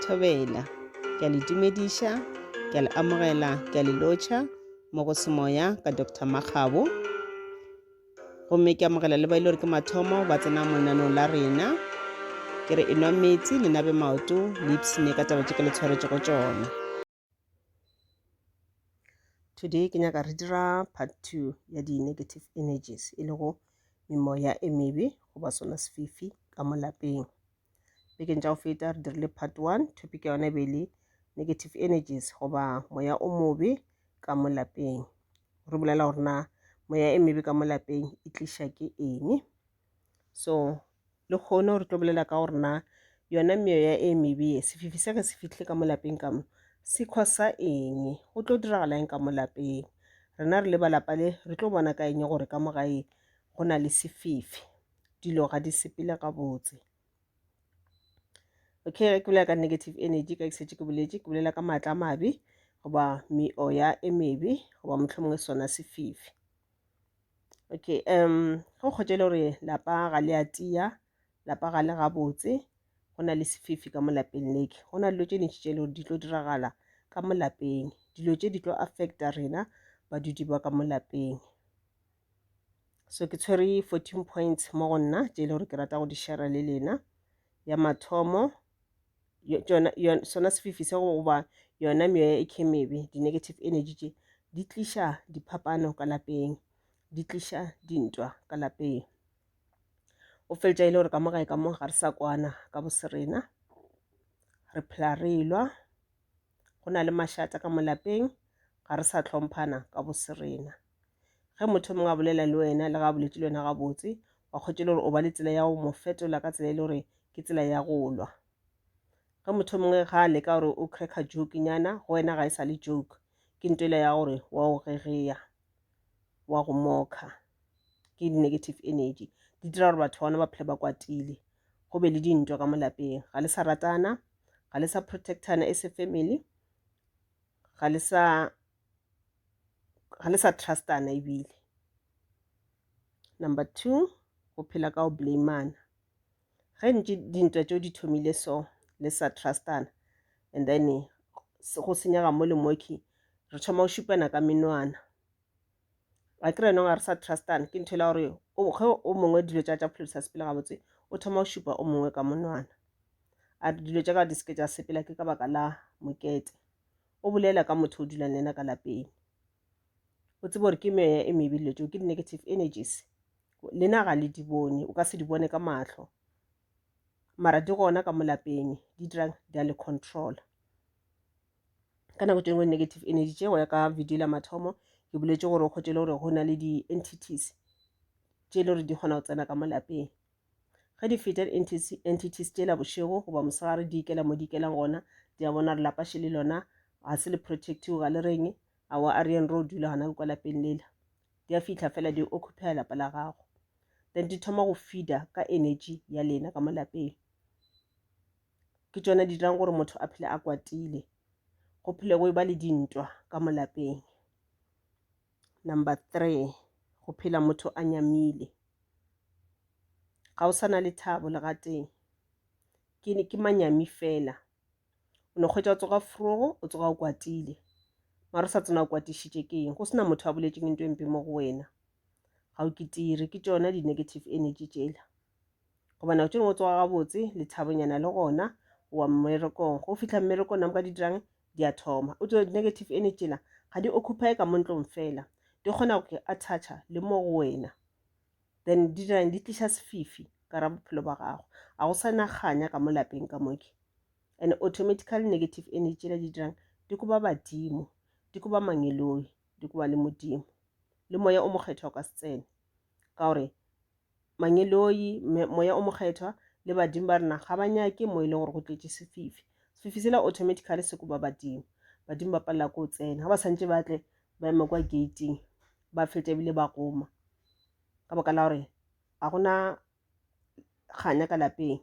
Thobela. Ke a le dumediša, ke a le amogela, ke a le lotšha mo go semoya ka Dr. Makgabo. Gomme ke amogela le ba ile gore ke mathomo ba tsena mo lenanong la rena. Ke re enwa metsi le nabe maoto le ipsine ka taba tše ke le tshwaretšego tšona. Today ke nyaka re dira part 2 ya di negative energies e lego memoya e mebe goba sona sefifi ka mo lapeng. Bekeng tša go feta re dirile part 1 topic ya yona e be le negative energies goba moya o mobe ka mo lapeng. Re bolela gore na moya e mebe ka mo lapeng e tlisha ke eng? so le kgone gore tlo bolela ka gore na yona meoya e mebee sefifi se ge se fitlhe ka mo lapeng ka mo se khosa eng go tlo diragala eng ka mo lapeng rena re le ba lapa le re tlo bona ka eng gore ka mo gae go na le sefifi dilo ga di sepele gabotse okay ge ke bolela ka negative energy ka ke setse ke boletse ke bolela ka maatla a mabe goba meoya e mebe goba mohlomongwe sona sefifi Okay um go kgotša e le gore lapa ga le a tia, lapa ga le gabotse, go na le sefifi ka mo lapeng leke. Go na le dilo tše dintši tše e le gore di tlo diragala ka mo lapeng. Dilo tše di tlo affecta rena badudi ba ka mo lapeng. So ke tshwere fourteen points mo go nna tše e le gore ke rata go di share-a le lena. Ya mathomo. sona sefifi se goba yona meoya e khemebe di-negative energy tše di tliša diphapano ka lapeng di tliša dintwa ka lapeng o feletša e le gore ka mo gae ka mo ga re sa kwana ka boserena re phela re lwa go na le mašata ka mo lapeng ga re sa tlhomphana ka boserena ge motho mongwe a bolela le wena le ga a boletse le wena gabotse wa kgotšela gore o ba le tsela ya go mo fetola ka tsela e le gore ke tsela ya go lwa ge motho mongwe ga a leka gore o cracka joke nyana go wena ga e sa le joke ke ntwela ya gore wa o gegeya wa go mokha ke di-negative energy di dira gore batho gona ba phele ba kwatile go be le dintwa ka molapeng ga le sa ratana ga le sa protectana e se family ga le sa ga le sa trustana ebile number two go phela ka go blamana ge ntše dintwa tšeo di thomile so le sa trustana and then go senyega mo le moki re thoma go šupana ka menwana a kry nong ga re sa trustana ke ntho e la gore ge o mongwe dilo tša tša pholosa sepele gabotse o thoma go šupa o mongwe ka monwana a dilo tša ka di seke tša sepela ke ka baka la mokete o bolela ka motho o dulang le ena ka lapeng o tsebe gore ke meya e mebe dilo tseo ke di-negative energies lena ga le di bone o ka se di bone ka matlho mara di gona ka molapeng di dirang di a le controla ka nako tengwe negative energy tse go ya ka video la mathomo ke boletse gore o kgotse le gore go na le di-entities tse e le gore di kgona go tsena ka molapeng Ge di-fetal entities tšela bošego goba mosegare di ikela mo di ikelang gona, di a bona re lapaše le lona ga se le protectiwe ga le reng awa a reyeng ro dula gona kwa lapeng lela di a fihla fela di occupya lapa la gago then di thoma go feeda ka energy ya lena ka mo lapeng ke tsona di dirang gore motho a phele a kwatile go phele go e ba le dintwa ka mo lapeng Number three, go phela motho a nyamile. Ga o sa na lethabo le gatee. Ke ne ke manyami fela. O no kgwetša o tsoga frogo, o tsoga o kwatile. Mara o sa tsena o kwatišitše ke eng? Go sena motho a boletšeng into e mpe mo go wena. Ga o kitire, ke tšona di-negative energy tšela. Goba nako tše dingwe o tsoga gabotse, lethabonyana le gona, o wa mmerekong. Go fihla mmerekong, namo ka di dirang? di a thoma o tlo negative energy tšela ga di occupy ka mo ntlong fela di kgona go attactšha le mo go wena then di dirang di tliša sefifi ka ra bophelo ba gago a go sa naganya ka mo lapeng ka moke and automatical negative energy tšela di dirang di koba badimo di koba mangeloi di koba le modimo le moya o mokgethwa o ka se tsene ka gore mangeloi, moya o mokgethwa le badimo ba rena ga ba nyake mo e le gore go tletše sefifi sefifi sela automatically se koba badimo badimo ba palela ko tsena ga ba santse ba tle ba ema kwa gating ba feta ebile ba goma ka baka la gore ga gona kganya ka lapeng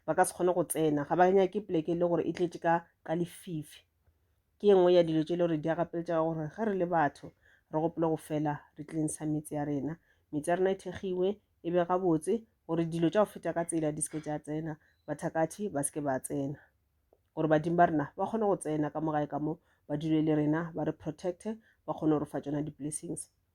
ba ka se kgone go tsena ga ba nyake poleke e le gore e tletše ka ka lefifi ke ye nngwe ya dilo tše e le gore di a gapeletša ka gore ge re le batho re gopole go fela re cleansa metse ya rena metse ya rena e thegiwe e be gabotse gore dilo tša go feta ka tsela di seke tša tsena bathakathi ba seke ba tsena gore badimo ba rena ba kgone go tsena ka mogae ka mo ba dule le rena ba re protecte ba kgone go re fa tsona di-blessings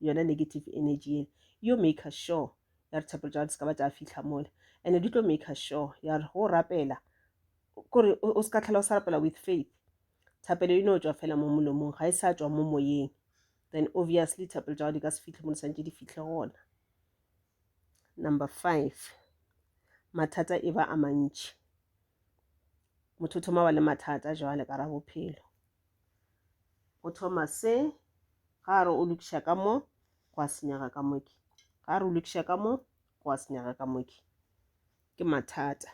yona negative energy yele yo maker sure ya re tshepelo tša di ska ba tša fitlha mole and di tlo maker sure ya re go rapela kore o se ka tlhela o sa rapela with faith thapelo e no tswa fela mo molomong ga e sa tswa mo moyeng then obviously thapelo tša go di ka se fitlhe mo di santse di fitlhe gona number five mathata e ba a mantši motho o thoma ba le mathata jwale ka ra bophelo Go thoma se, ga re o lokiša ka mo, go a senyega ka moki. Ga re o lokiša ka mo, go a senyega ka moki. Ke mathata.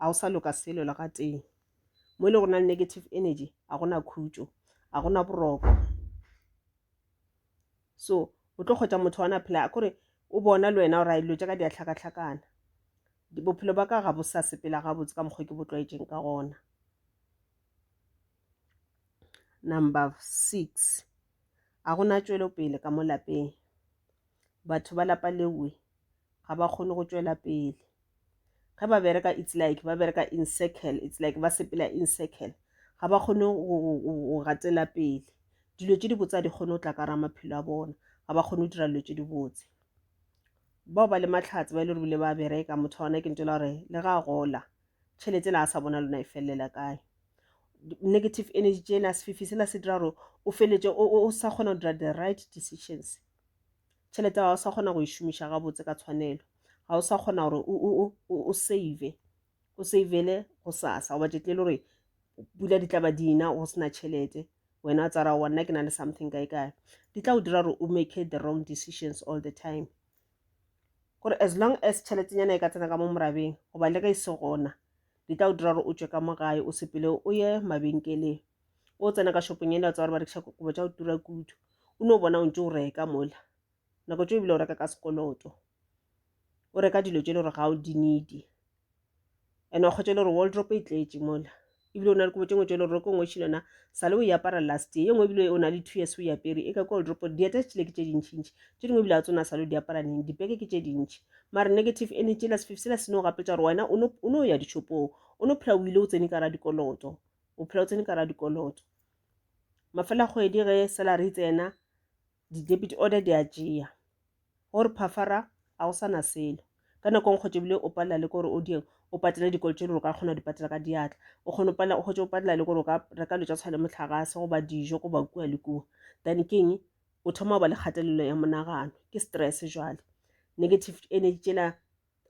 A go sa loka selo le ga tee. Mo e le go na le negative energy, a go na khutšo, a go na boroko. So, o tlo kgwetsa motho wa na phela, a kore o bona le wena gore a dilo tša ka di a hlakahlakana bophelo ba ka ga bo sa sepela gabotse ka mokgwa ke bo tlwaetšeng ka gona Number six, ga go na tšwelopele ka mo lapeng. Batho ba lapa lewe ga ba kgone go tšwela pele. Ge ba bereka it's like ba bereka in circle, it's like ba sepela in circle. Ga ba kgone go gatela pele. Dilo tše dibotse ga di kgone go tla ka gare ga maphelo a bona, ga ba kgone go dira dilo tše dibotse. Bao ba le mahlatse ba e le gore ba bereka, motho wa gona ke ntho e le ya gore le ge a gola, tšhelete ela a sa bona lona e felelela kae negative energy tšena sefifi sela se dira gore o feletse o sa kgona go dira the right decisions tšhelete ga o sa kgona go e šomiša gabotse ka tshwanelo ga o sa kgona gore o save o savele go sasa goba tšetle e le gore pula di tlaba dina go sena tšhelete wena tsara wa nna ke na le something kae kae di tla go dira gore o make the wrong decisions all the time gore as long as tšheletenyana e ka tsena ka mo morabeng goba le ge e se gona di tla o dira gore o tšwe ka mo gae o sepele o ye mabenkeleng o tsena ka shopong ele wa tsa gore ba rekiša kokobo tša go tura kudu o no bona o ntse o reka mola nako tse ebile o reka ka sekoloto o reka dilo tse e le gore ga o di needi and wa kgotsa e le gore waldrop e tletše mola ebile o na le kobo tše ngwe tše le gore ko ngwe šile yona sale o e apara last ye nngwe ebile o na le two years o e apere e ka ko waldrop dieta se tšile ke tše dintšhintšhi tše dingwe ebile a tsona sale o di apara neng dipeke ke tše dintšhi mare negative energy la sefifi sela sene o gapetsa gore wena o no ya dishopong o no phela o ile o tsene ka ra dikoloto o phela o tsene ka ra dikoloto mafela kgwedi ge salary e tsena Di-debit order di a tšea. Go re phafara ga go sa na selo. Ka nako e nkgotse ebile o palela le ke gore o dieng o patele dikolo tse e le gore o ka kgona go di patela ka diatla. O kgone palela o kgotse o palela le gore o ka reka dilo tsa tshwana le motlagase goba dijo goba kua le kua. Then ke eng o thoma go ba le kgatelelo ya monagano ke stress jwale. Negative energy tsela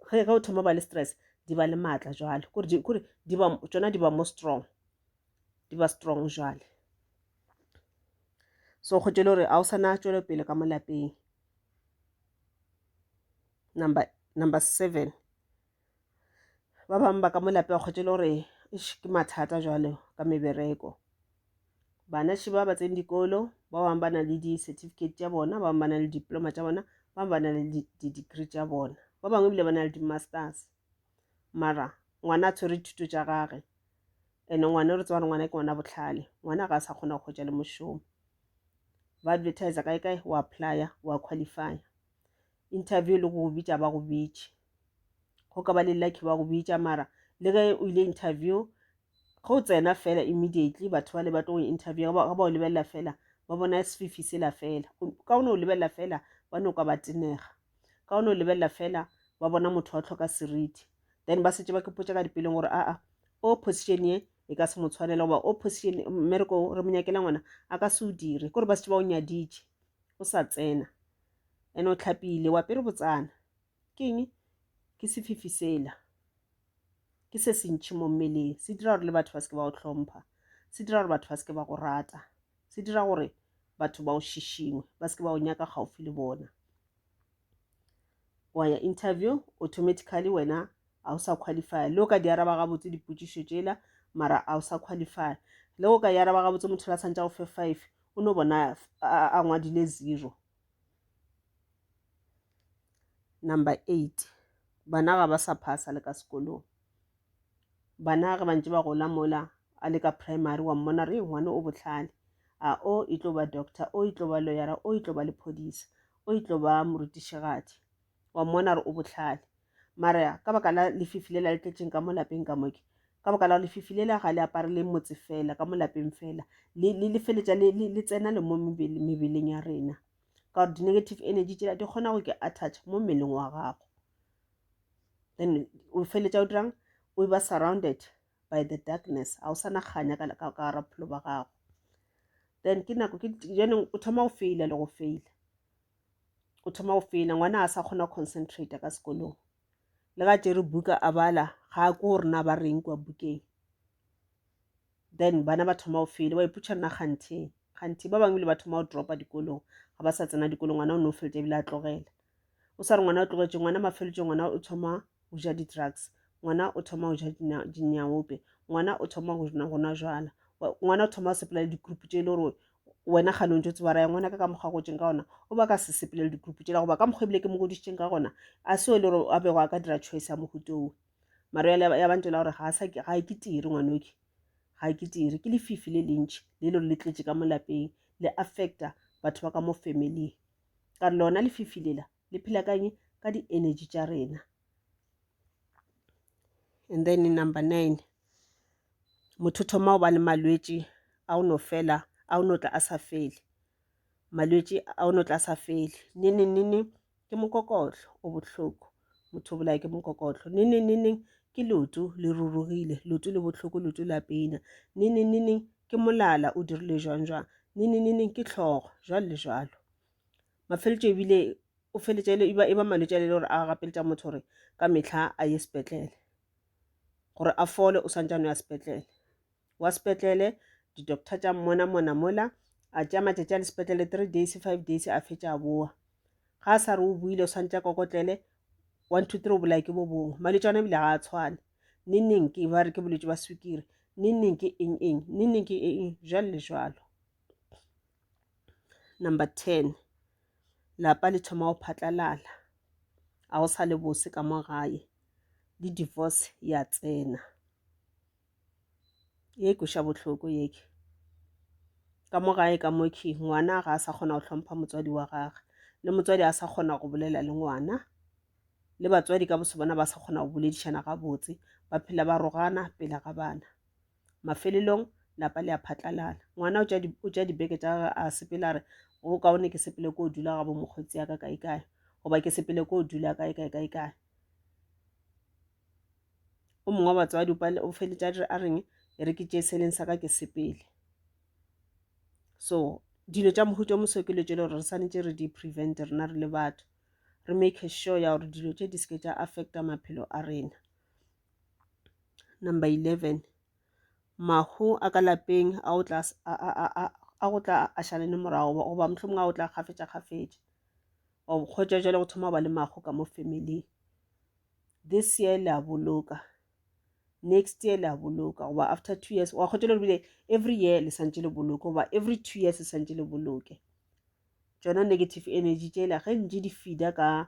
ge ge o thoma ba le stress di ba le maatla jwale kore di kore di ba tsona di ba mo strong di ba strong jwale so go tšele gore a o sana tšwelo pele ka mo lapeng number number seven ba bangwe ba ka mo lapeng go tšele gore ke mathata jwale ka mebereko Banaši ba ba tsene dikolo, ba bangwe ba na le di-certificate tša bona, ba bangwe ba na le diploma tša bona, ba bangwe ba na le di-degree tša bona, ba bangwe ebile ba na le di-masters. Mara ngwana a tshwere dithuto tša gage and ngwana re tsebare ngwana ke ngwana botlhale ngwana ga a sa kgona go kgwetsa le mošomo ba advertise kae kae wa applya wa qualify interview le go go bitša ba go bitše go ka ba le lucky ba go bitša mara le ge o ile interview go tsena fela immediately batho ba le ba tlo interview ga ba o lebelela fela ba bona sefifi sela fela ka o ne o lebelela fela ba no ka ba tenega ka o ne o lebelela fela ba bona motho wa tlhoka seriti then ba setse ba ke potsa ka dipeleng gore aa o position ye e ka se mo tshwanela goba o position mmereko re mo nyakela ngwana a ka se o dire kore ba setse ba o nyaditše o sa tsena ene o tlhapile wa pere botsana Ke eng? Ke sefifi sela. Ke se se ntšhi mo mmeleng. Se dira gore le batho ba seke ba go tlhompha. Se dira gore batho ba seke ba go rata. Se dira gore batho ba o šišingwe, ba seke ba o nyaka gaufi le bona. Wa ya interview, automatically wena ga o sa qualify. Le o ka di araba gabotse dipotšišo tšela, mara ga o sa qualify. Le o ka di araba gabotse motho la santša go fe five, o no bona a ngwadile zero. Number eight, bana ga ba sa phasa le ka sekolong. Bana ge ba ntse ba gola mola a le ka primary wa mmona re ngwana o bohlale. A o e tlo ba doctor, o e tlo ba lawyer, o e tlo ba lephodisa, o e tlo ba morutišigadi. wa mmona re o bohlale mara ka baka la lefifi lela le tletšeng ka mo lapeng ka moke ka baka la go lefifi lela ga le apare le motse fela ka mo lapeng fela le feletša le tsena le mo mebeleng ya rena ka gore di-negative energy tsela di kgona go ke attach mo mmeleng wa gago then o feletša o dirang o ba surrounded by the darkness ga o sa naganya ka gara bophelo ba gago then ke nako ke jone o thoma go feila le go feila o thoma o fela ngwana a sa kgona concentrate ka sekolong le ga tšere buka a bala ga a ko gore na ba reng kua bukeng then bana ba thoma o fele ba iputšha nna kganthe kganthe ba bangwe le ba thoma o dropa dikolong ga ba sa tsena dikolong ngwana o ne o feletse ebile a tlogela o sa re ngwana o tlogetše ngwana mafeletse ngwana o thoma go ja di-drugs ngwana o thoma go ja dinyaope ngwana o thoma go nwa jala ngwana o thoma go sepela le di-group tse e le gore wena gane o ntse o tseba raya ngwana ka ka mokgwa gotseng ka gona o ba ka se sepele le di-group tse goba ka mokgwa ebile ke mo godisitseng ka gona a seo e le gore a bego a ka dira choice ya mogutoo maro ya bantse la gore ga e ke tiri ngwanoke ga e ke tiri ke lefifi le lentšhi le e le gore le tletse ka mo lapeng le affecta batho ba ka mo family ka re lona lefifi lela le phela kang ka di-energy tša rena and then number nine motho thoma go ba le malwetši a o no fela a o no tla a sa fele malwetši a o no tla a sa fele nene nene ke mokokotlo o bohloko motho o bolaya ke mokokotlo nene neneng ke lotu le rurugile lotu le bohloko lotu la pena nene neneng ke molala o dirile jwang jwang nene neneng ke tlhogo jwalo le jwalo mafeletšo ebile o feletša e ba e ba malwetši a le gore a gapeletša motho gore ka mehla a ye sepetlele gore a fole o swantsane ya sepetlele wa sepetlele di-doctor tša mmona mona mola a tšea matšatši a le sepetlele three days five days a fetša a boa ga a sa re o buile o swantsha kokotlele one two three o bolaya ke bo bongwe malwetši ana ebile ga a tshwane ne neng ke ba re ke bolwetši ba sukiri ne neng ke eng eng ne neng ke eng jalo le jalo Number ten, lapa le thoma go phatlalala. Ga go sa le bose ka mo gae le divorce ya tsena. Ye e kweša bohloko ye ke. Ka mo gae ka mo khe ngwana ga a sa kgona go hlompha motswadi wa gagwe. Le motswadi a sa kgona go bolela le ngwana. Le batswadi ka boso bona ba sa kgona go boledišana gabotse. Ba phela ba rogana pele ga bana. mafelelong lapa le a phatlalala ngwana o tša dibeke tša gage a sepela re go kaone ke sepele ko o dula ga bo mokgotsi ya ka kae kae goba ke sepele ko o dula kae kae kae kae o mongwe wa batswadi o feletša dire a reng e re ke tše seleng sa ka ke sepele so dilo tša mohuta o moso ke lo tše le gore re swanetše re di-prevent rena re le batho re make sure ya gore dilo tše di seke tša affecta maphelo a rena Number 11, Mahu a ka lapeng a o tla a go tla a šale le morago goba mohlomong a o tla kgafetša kgafetša wa bokgwetša jale go thoma ba le mago ka mo family this year le a boloka next year le a boloka goba after two years wa kgwetša le bile every year le santse le boloke goba every two years le santse le boloke tšona negative energy tšela ge ntše di fida ka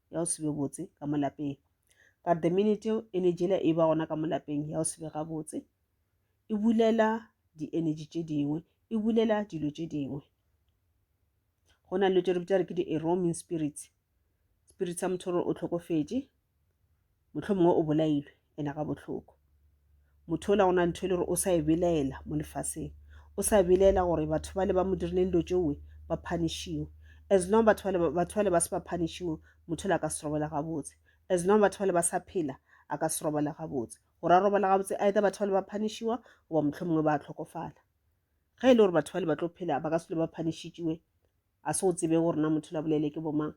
ya go sebe botse ka mo lapeng but the minute eo energy ela e ba gona ka mo lapeng ya go sebe ga botse e bulela di-energy tše dingwe e bulela dilo tše dingwe go na le tše re bitsa re ke di-eroming spirits spirit sa motho gore o tlhokofetše Mohlomongwe o bolailwe, ena ga bohloko. Motho ola gona ntho e le gore o sa e belaela mo lefaseng. O sa belaela gore batho ba le ba mo dirileng dilo tšeoe ba phanishiwe. As long batho ba le batho ba le ba se ba phanishiwe, motho ola ka se robala gabotse. As long batho ba le ba sa phela, a ka se robala gabotse. Gore a robala gabotse, either batho ba le ba phanishiwa goba mohlomongwe ba tlhokofala. Ge e le gore batho ba le ba tlo phela ba ka se le ba phanishitšiwe, a se o tsebe gore na motho ola bolele ke bomang.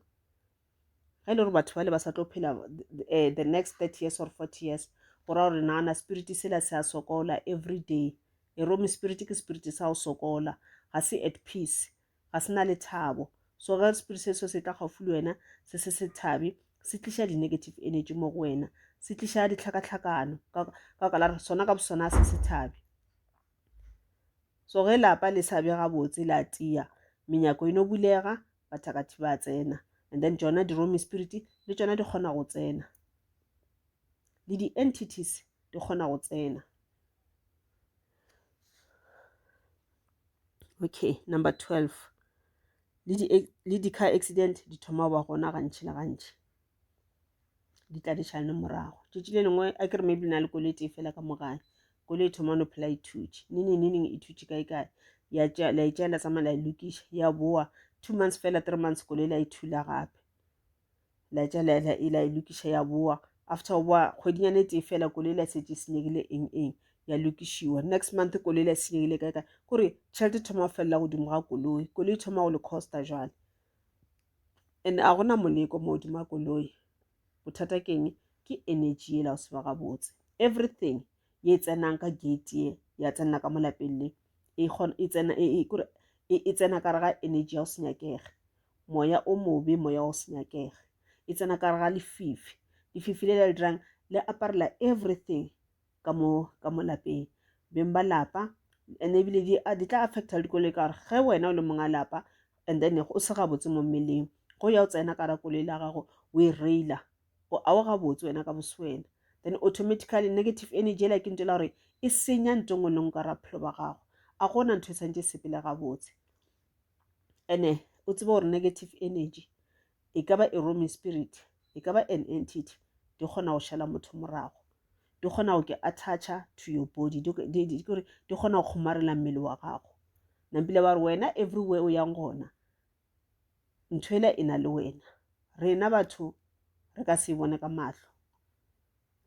ge e le gore batho ba le ba sa tlo phela um the next thirty years or forty years go raya gore nagana spirit sela se a sokola every day e rome spirit ke spirit sa go sokola ga se at peace ga se na le thabo so ge spirit se so se tla gaufi le wena se se se thabe se tliša di-negative energy mo go wena se tliša ditlhakatlhakano ka baka la re sona ka bosona se se thabe so ge lapa le sa be gabotse la tia menyako e no bulega bathakathi ba tsena and then tšona di-romy spirit le tšona di kgona go tsena le di-entities di kgona go tsena okay number 12 le di-car accident di thoma go ba gona gantši le gantši di tla di šalane morago tšatši le lengwe a ke re maybe na le kole e tee fela ka mogae kole e thoma no phela ithutše neneng neneng e thutše kae kae ya tša la itša la tsamaya la e lokiša ya boa two months fela three months kole la e thula gape la itša la la e la e lokiša ya boa after wa kgwedinyane e tee fela kole la setse senyegile eng eng ya lokišiwa next month kole la senyegile kae kae kore tšhelete thoma go felela godimo ga koloi koloi thoma go le costa jwale and a gona moleko mo hodima koloi bothata ke eng ke energy e la o seba gabotse everything ye tsenang ka gate ye ya tsenela ka molapeng le e kgona e tsena e e kore e e tsena ka ga energy ya o senyakega moya o mobe moya o senyakega e tsena ka ga lefifi lefifi le le dirang le aparela everything ka mo ka mo lapeng beng ba lapa and ebile di a di tla affecta le dikoloi ka gore ge wena o le monga lapa and then o se gabotse mo mmeleng go ya o tsena ka ra koloi la gago o e raila o a o gabotse wena ka boswena then automatically negative energy ela ke ntela gore e senya nto ngwe leng ka raphelo ba gago a gona ntho e tshwanetse sepele gabotse ene o tsebe gore negative energy e ka ba e rome spirit e ka ba an entity di kgona go šala motho morago di kgona go ke attacha to your body di kgona go kgomarela mmele wa gago nampile ba re wena everywhere o yang gona ntho ela e na le wena rena batho re ka se e bone ka mahlo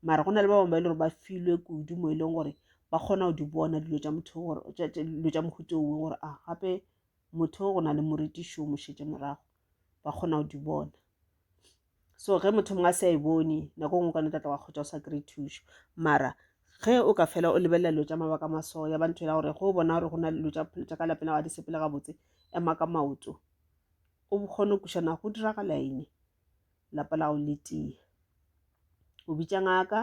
mara go na le ba bangwe ba e le gore ba filwe kudu mo e leng gore ba kgona go di bona dilo tša motho gore dilo tša mohuto ongwe gore a gape motho go na le moritišo o mošetse morago ba kgona go di bona so ge motho mongwe a se a e bone nako ngwe ka ne tlatla wa kgotsa o sa kry-e thušo mara ge o ka fela o lebelela dilo tša mabaka maso ya ba ntho ela gore ge o bona gore go na le dilo tša phelo tša ka lapeng la ga di sepele gabotse ema ka maoto o kgone go kušana go diragala eng lapa la go le tee o bitša ngaka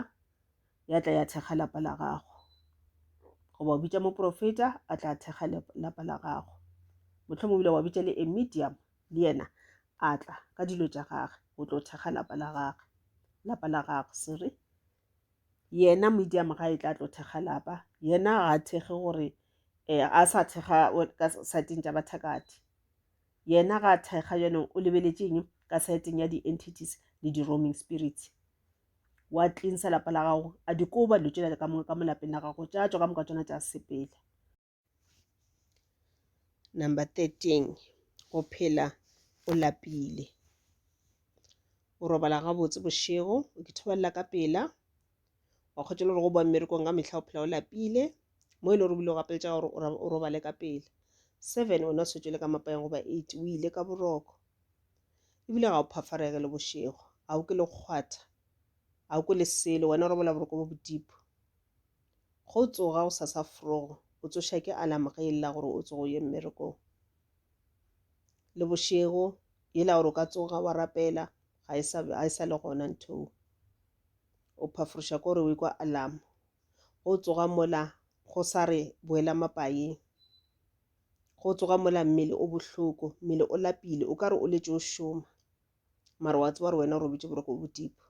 ya tla ya thekga lapa la gago goba o bitša moprofeta a tla thekga lapa la gago motlho mo bile wa bitša le emedium le yena a tla ka dilo tša gage o tlo thekga lapa la gage lapa la gagwe sere yena medium ga e tla tlo thekga lapa yena ga a thekge gore um a sa thekga ka saeteng tša bathakati yena ga a thekga yone o lebeletšeng ka saeteng ya di-entities le di-roaming spirits wa cleansa lapa la gago a dikoba dilo tšela ka moka ka mo lapeng la gago tša tšwa ka moka tsona tša sepela number thirteen go phela o lapile o robala gabotse bošego o ke thobalela ka pela wa kgotsa le gore go boa mmerekong ka mehla o phela o lapile mo e le gore o bile o gapeletša gore o robale ka pela seven o ne o setswe le ka mapayeng goba eight o ile ka boroko ebile ga o phafarege le bošego ga o ke le kgwatha ga o kwe le selo wena o robola boroko bo bodipo go tsoga go sasa frogo o tsoša ke alarm ge e lla gore o tsogo ye mmerekong le bošego yela gore o ka tsoga wa rapela ga e sa ga e sa le gona ntho o phaforoša ko re o ikwa alarm go tsoga mola go sa re boela mapaeng go tsoga mola mmele o bohloko mmele o lapile o ka re o letše o šoma mara wa tseba gore wena o robetše boroko bodipo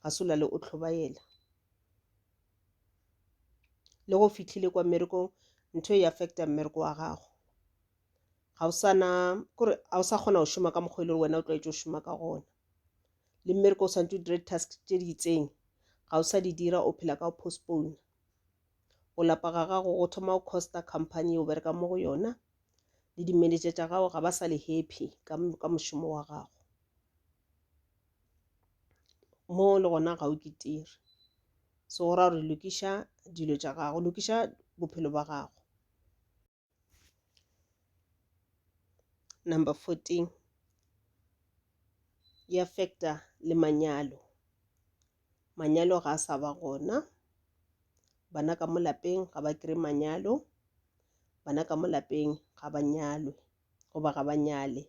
ga se o lale o tlhobaela le go fitlhile kwa mmerekong ntho e affecta mmereko wa gago ga o sana kore ga o sa kgona go šoma ka mokgwa e le gore wena o tlwaetše go šoma ka gona le mmereko o santse o dire task tše di itseng ga o sa di dira o phela ka go postpone go lapa ga gago go thoma go costa company o bereka mo go yona le di-manager tša gago ga ba sa le happy ka, ka mošomo wa gago mo le gona ga o kitire so go ra gore lokiša dilo tša gago lokiša bophelo ba gago Number 14 e affecta le manyalo. Manyalo ga a sa ba gona. Bana ka mo lapeng ga ba kry manyalo. Bana ka mo lapeng ga ba nyalwe goba ga ba nyale.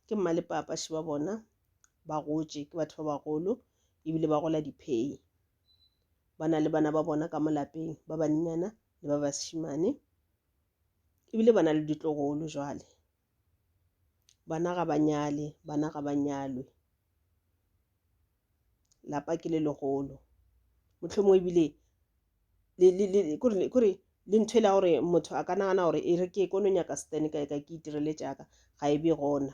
Ke mma le papa še ba bona ba gotše ke batho ba bagolo ebile ba gola diphei. ba na le bana ba bona ka molapeng ba banyenyana le ba bašimane ebile ba na le ditlogolo jwale bana ga ba nyale bana ga ba nyalwe lapa ke le legolo motlhomo ebile kore le ntho e la gore motho a ka nagana gore e re ke kono nyaka stene kae kae ke itirele jaaka ga e be gona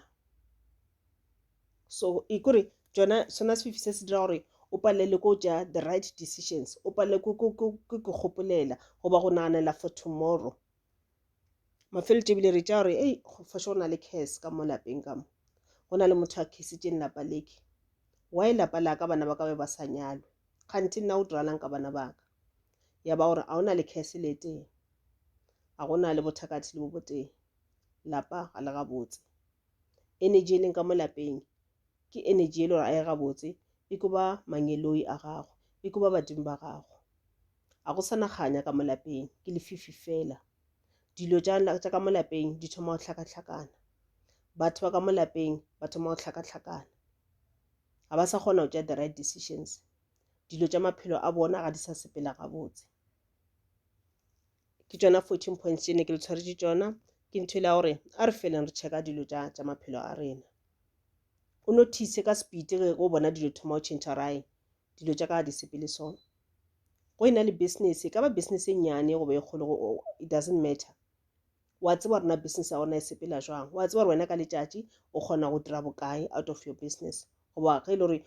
so e kore tsona sona sefifi se se dira gore o palelwe ko ja the right decisions o palelwe ke gopolela goba go naganela for tomorrow mafeletse ebile re tša gore ei fashe go na le case ka mo lapeng ka mo go na le motho a khisitseng lapa leke why lapa la ka bana ba ka be ba sa nyalwe kganthe nna o diralang ka bana ba ka ya ba gore a o na le case le teng a go na le bothakathi le bo boteng lapa ga le gabotse energy e leng ka mo lapeng ke energy e le gore a e gabotse e ko ba mangeloi a gago e ko ba badimo ba gago a go sana kganya ka mo lapeng ke lefifi fela dilo tša ka mo lapeng di thoma go hlakahlakana batho ba ka mo lapeng ba thoma go hlakahlakana ga ba sa kgona go tša the right decisions dilo tša maphelo a bona ga di sa sepela gabotse ke tšona fourteen points tše ne ke le tshwaretše tšona ke ntho e le ya gore a re feleng re checka dilo tša tša maphelo a rena o notice ka speed ge o bona dilo thoma o change rae dilo tša ka ga di sepele so go e na le business e ka ba business e nnyane goba e kgolo it doesn't matter wa tseba gore na business ya gona e sepela jwang wa tseba gore wena ka letšatši o kgona go dira bokae out of your business goba ge e le gore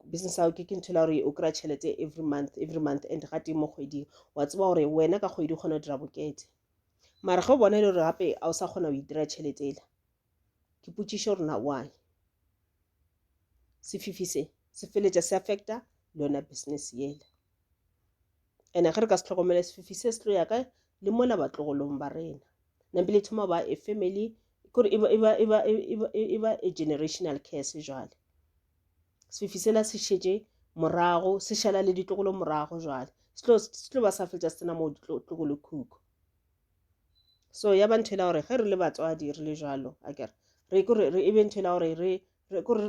business ya ke ntho e la gore o kry-a tšhelete every month every month and ga teng mo kgweding wa tseba gore wena ka kgwedi o kgona go dira bokete mara ge o bona e le gore gape a o sa kgona go itira tšhelete ela ke potšišo gore na why sefifi se se feletša se affecta le yona business yela ene ge re ka se tlhokomele sefifi se se tlo ya kae le mola batlogolong ba rena nampile e thoma ba a family kore e ba a generational curse jale sefifi sela se šetše morago se šala le ditlogolo morago jale se tlo ba sa fetša se tsena moo ditlogolo khukhu so ya ba ntho e la gore ge re le batswadi re le jalo a kere re kore re e be ntho e la gore re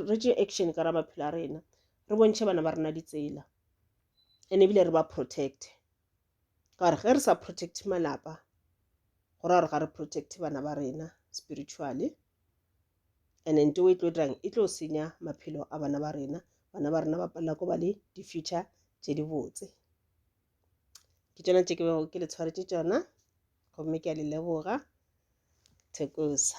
re tše action ka ra maphelo a rena re bontšhe bana ba rena ditsela ene ebile re ba protecte ka gore ge re sa protecte malapa go ra gore ga re protecte bana ba rena spiritually and nto e tlo dirang e tlo senya maphelo a bana ba rena bana ba rena ba palela ko ba le di-future tse di botse ke tsona tse ke bego ke le tshwaretse tsona gomme ke a le leboga thekosa